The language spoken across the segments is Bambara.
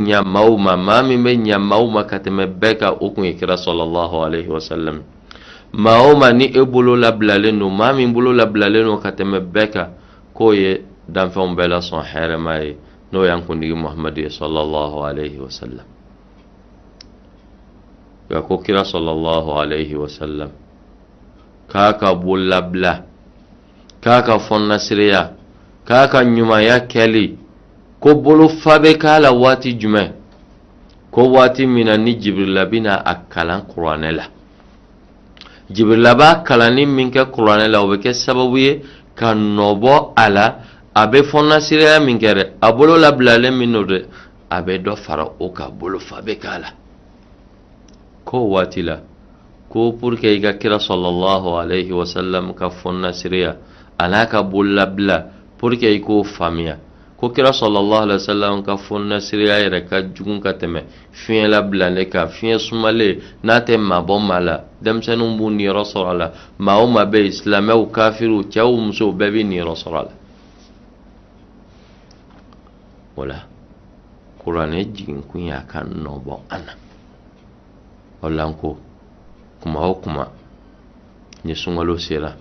ɲa maaw ma maa min bɛ ɲa maaw ma ka tɛmɛ bɛɛ kan o kun ye kira sɔlɔlɔhu alayhi wa sallam maa o maa ni e bolo labilalen don maa min bolo labilalen don ka tɛmɛ bɛɛ kan k'o ye danfɛnw bɛɛ la sɔn hɛrɛma ye n'o y'an kundigi muhamadu ye sɔlɔlɔhu alayhi wa sallam nka ko kira sɔlɔlɔhu alayhi wa sallam k'a ka bolo labila k'a ka fɔnnasireya k'a ka ɲumanya kɛli ko bolofa bɛ k'a la waati jumɛn ko waati min na ni jibirila bɛna a kalan kuranɛ la jibirila b'a kalanni min kɛ kuranɛ la o bɛ kɛ sababu ye ka nɔbɔ a la a bɛ fɔnnasireya min kɛ dɛ a bolo labilalen min don dɛ a bɛ dɔ fara o kan bolofa bɛ k'a la k'o waati la ko pour que i ka kira sɔlɔlɔhu alayhi wa sallam ka fɔnnasiriya a n'a ka bololabila pour que i k'o faamuya ko kira sɔlɔlɔhu alayhi wa sallam ka fɔnnasiriya yɛrɛ ka jugun ka tɛmɛ fiɲɛ labilalen kan fiɲɛ sumalen n'a tɛ maa bɔ maa la denmisɛnninw b'u niyɔrɔ sɔrɔ a la maa o maa bɛ yen silamɛw kafiriw cɛw musow bɛɛ b'i niyɔrɔ sɔrɔ a la o la kuranɛ jiginkun y'a ka nɔbɔ an na o la n ko kuma o kuma ni sunkalo sera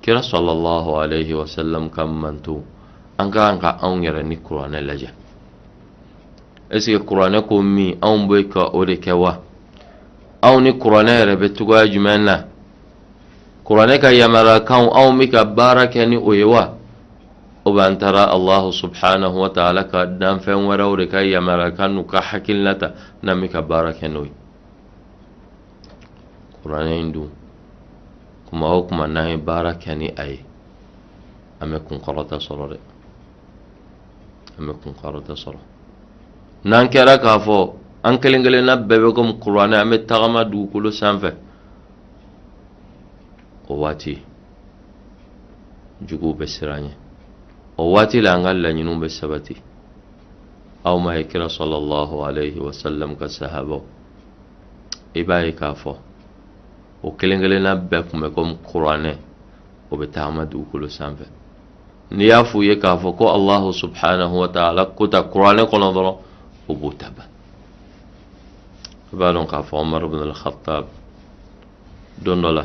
kira sɔlɔlɔhu alayhi wa sallam ka mantɔn an ka kan ka anw yɛrɛ ni kuranɛ lajɛ est-ce que kuranɛ ko min anw bɛ ka o de kɛ wa anw ni kuranɛ yɛrɛ bɛ cogoya jumɛn na kuranɛ ka yamaruyakanw anw bɛ ka baara kɛ ni o ye wa ou bien an taara allahu subhanahu wa ta'ala ka danfɛn wɛrɛw de ka yamaruyakan n'u ka hakilina ta n'an bɛ ka baara kɛ n'o ye kuranɛ in dun kuma o kuma n'an ye baara kɛ ni a ye an bɛ kunkɔrɔta sɔrɔ dɛ an bɛ kunkɔrɔta sɔrɔ n'an kɛra k'a fɔ an kelen kelenna bɛɛ bɛ komi kuranɛ an bɛ tagama dugukolo sanfɛ o waati juguw bɛ siran an ɲɛ o waati la an ka laɲiniw bɛ sabati aw ma ye kira sɔlɔlɔhu alayhi wa sallam ka sahabaw i b'a ye k'a fɔ o kelen kelenna bɛɛ kun bɛ komi kuranɛ o bɛ tagama dugukolo sanfɛ n'i y'a f'u ye k'a fɔ ko alahu subhanahu wa taala ko tan kuranɛ kɔnɔ dɔrɔn o b'o ta ban i b'a dɔn k'a fɔ umaru bin al-khattab don dɔ la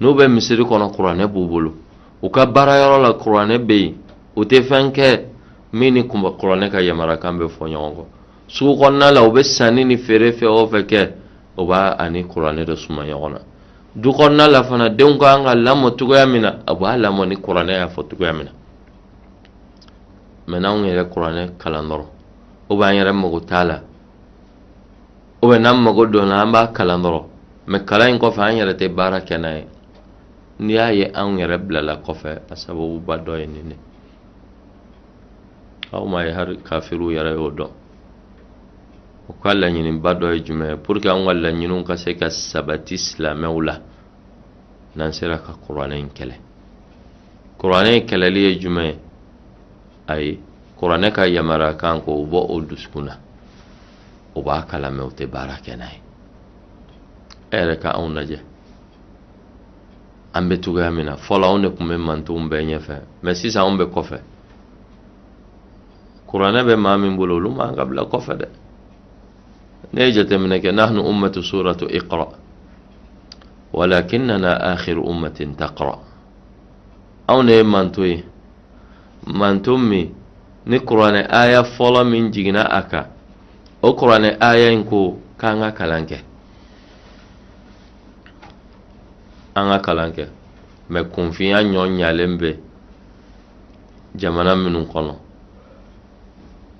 n'u bɛ misiri kɔnɔ kuranɛ b'u bolo u ka baarayɔrɔ la kuranɛ bɛ yen u tɛ fɛn kɛ min ni kunba kuranɛ ka yamarakan bɛ fɔ ɲɔgɔn kɔ sugu kɔnɔna la u bɛ sanni ni feere fɛn o fɛn kɛ u b'a ani kuranɛ de suma ɲɔgɔn na du kɔnɔna la fana denw ka kan ka lamɔ cogoya min na a b'a lamɔ ni kuranɛ y'a fɔ cogoya min na mɛ n'anw yɛrɛ kuranɛ kalan dɔrɔn o b'an yɛrɛ mago t'a la o bɛ n'an mago don la an b'a kalan dɔrɔn mɛ kalan in kɔfɛ an yɛrɛ tɛ baara kɛ n'a ye n'i y'a ye anw yɛrɛ bilala kɔfɛ a sababuba dɔ ye nin de aw ma ye hari kafiriw yɛrɛ y'o dɔn u ka laɲiniba dɔ ye jumɛn ye pour que anw ka laɲiniw ka se ka sabati silamɛw la n'an sera ka kuranɛ in kɛlɛ kuranɛ in kɛlɛli ye jumɛn ye ayi kuranɛ ka yamarakan k'o bɔ u dusukun na u b'a kalan mɛ u tɛ baara kɛ n'a ye e yɛrɛ ka anw lajɛ an bɛ cogoya min na fɔlɔ anw de tun bɛ mantonw bɛɛ ɲɛfɛ mɛ sisan anw bɛ kɔfɛ kuranɛ bɛ maa min bolo olu man ka bila kɔfɛ dɛ ne ye jateminɛ kɛ nahnu ummatu suratu iqra walakinnana akhiru ummatin taqra anw de ye manton ye manton min ni kuranɛ aya fɔlɔ min jiginna a kan o kuranɛ aya in ko k'an ka kalan kɛ an ka kalan kɛ mɛ kunfinya ɲɔ ɲalen bɛ jamana minnu kɔnɔ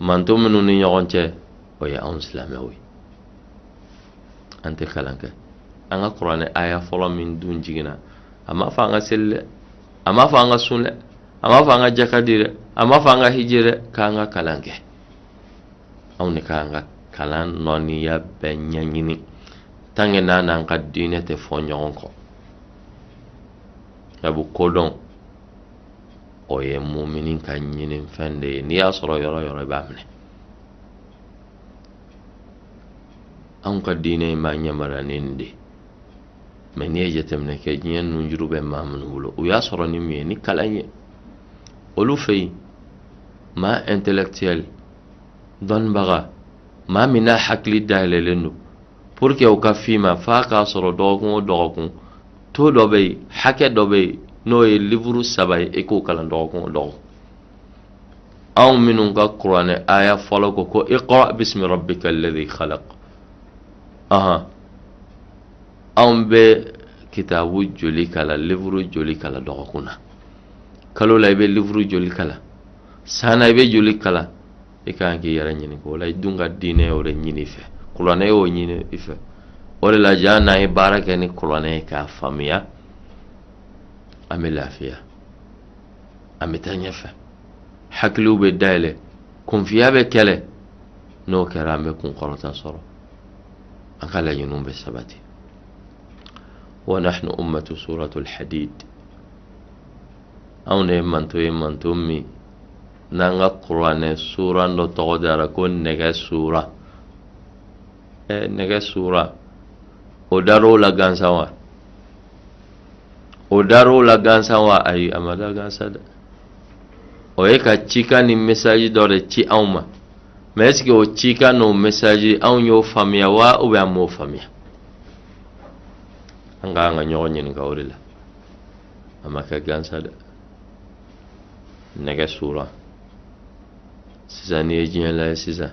manton minnu ni ɲɔgɔn cɛ o ye anw silamɛw ye an tɛ kalan kɛ an ka kuranɛ aya fɔlɔ min dun jiginna a m'a fɔ an ka seli dɛ a m'a fɔ an ka sun dɛ a m'a fɔ an ka jaka di dɛ a m'a fɔ an ka hiji dɛ k'an ka kalan kɛ anw de ka kan ka lɔnniya bɛɛ ɲɛɲini tant que n'a n'an ka diinɛ tɛ fɔ ɲɔgɔn kɔ sabu kodɔn o ye mumini ka ɲinifɛn de ye n'i y'a sɔrɔ yɔrɔ o yɔrɔ i b'a minɛ anw ka diinɛ in b'an yamara ni nin de ye mɛ n'i ye jateminɛ kɛ diɲɛ nunjuru bɛ maa minnu bolo u y'a sɔrɔ ni min ye ni kalan ye olu fɛ yen maa intellectuel dɔnnibaga maa min n'a hakili dayɛlɛlen don pour que u k'a f'i ma f'a k'a sɔrɔ dɔgɔkun o dɔgɔkun taux dɔ bɛ yen hakɛ dɔ bɛ yen n'o ye livuru saba ye i k'o kalan dɔgɔkun o dɔgɔkun anw minnu ka kuranɛ aya fɔlɔ ko ko iqra bismi rabbika alladhi khalaq ahan anw bɛ kitabu joli kalan livuru joli kalan dɔgɔkun na kalo la i bɛ livuru joli kalan san na i bɛ joli kalan i ka kan k'i yɛrɛ ɲininka o la i dun ka diinɛ y'o de ɲini i fɛ kuranɛ y'o ɲini i fɛ o de la jaa n'an ye baara kɛ ni kuranɛ ye k'a faamuya an bɛ lafiya an bɛ taa ɲɛfɛ hakiliw bɛ dayɛlɛ kunfinya bɛ kɛlɛ n'o kɛra an bɛ kunkɔrɔta sɔrɔ an ka laɲiniw bɛ sabati wa nahnu ummatu suratul hadid anw de ye manton ye manton min n'an ka kuranɛ sura dɔ tɔgɔ dara ko nɛgɛ sura ɛ nɛgɛ sura o dar'o la gansan wa o dar'o la gansan wa ayi a ma da gansan dɛ o ye ka cikan ni message dɔ de ci anw ma mais est-ce que o cikan n'o message anw y'o faamuya wa ou bien an m'o faamuya an ka kan ka ɲɔgɔn ɲininka o de la a ma kɛ gansan dɛ nɛgɛ sura sisan n'i ye diɲɛ lajɛ sisan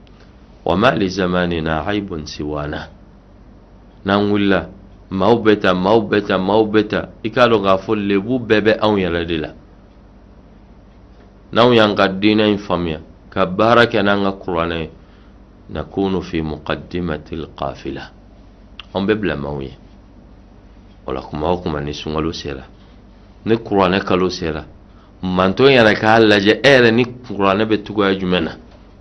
wa ma li zamanina aibun siwana n'an wulila maaw bɛ tan maaw bɛ tan maaw bɛ tan i k'a dɔn k'a fɔ lebu bɛɛ bɛ anw yɛrɛ de la n'anw y'an ka diinɛ in faamuya ka baara kɛ n'an ka kuranɛ ye nakunu fi muqaddimati lqafila anw bɛ bila maaw ɲɛ o la kuma o kuma ni sunkalo sera ni kuranɛ kalo sera manton yɛrɛ k'a lajɛ e yɛrɛ ni kuranɛ bɛ cogoya jumɛn na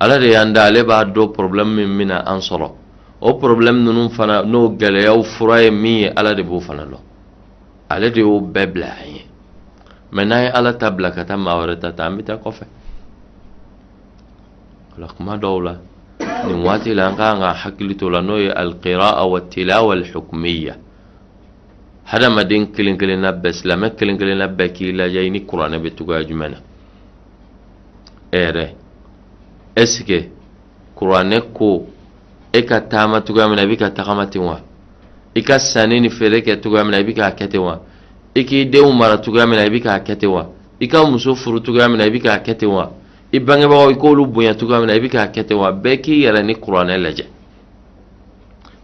ala de y'an da ale b'a dɔn problème min bɛna an sɔrɔ o problème ninnu fana n'o gɛlɛyaw fura ye min ye ala de b'o fana dɔn ale de y'o bɛɛ bila an ye mais n'an ye ala ta bila ka taa maa wɛrɛ ta ta an bɛ taa kɔfɛ o la kuma dɔw la nin waati la an ka kan ka hakili to la n'o ye alqiraa wa tilawa alhukmiya hadamaden kelen kelenna bɛɛ silamɛ kelen kelenna bɛɛ k'i lajɛ i ni kuranɛ bɛ cogoya jumɛn na e yɛrɛ est-ce que kuranɛ ko e ka taama cogoya min na i bɛ ka tagama ten wa i ka sanni ni feere kɛ cogoya min na i bɛ k'a kɛ ten wa i k'i denw mara cogoya min na i bɛ k'a kɛ ten wa i ka muso furu cogoya min na i bɛ k'a kɛ ten wa i bangebagaw i k'olu bonya cogoya min na i bɛ k'a kɛ ten wa bɛɛ k'i yɛrɛ ni kuranɛ lajɛ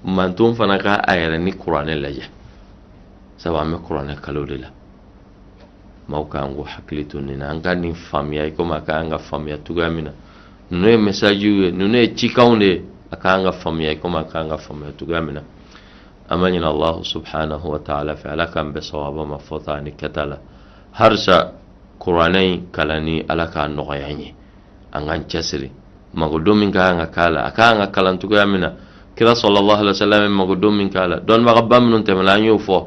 manton fana ka a yɛrɛ ni kuranɛ lajɛ sabu an bɛ kuranɛ kalo de la maaw ka kan k'u hakili to nin na an ka nin faamuya i komi a ka kan ka faamuya cogoya min na ninnu ye mesajiw ye ninnu ye cikanw de ye a ka kan ka faamuya i komi a ka kan ka faamuya cogoya min na an b'a ɲini alahu subhanahu wa taala fɛ ala k'an bɛn sawaba ma fɔta ani kɛta la harisa kuranɛ in kalanni ala k'a nɔgɔya an ye an k'an cɛsiri magodon min ka kan ka k'a la a ka kan ka kalan cogoya min na kira sallallahu alayhi wa sallam ye magodon min k'a la dɔnnibagaba minnu tɛmɛna an y'o fɔ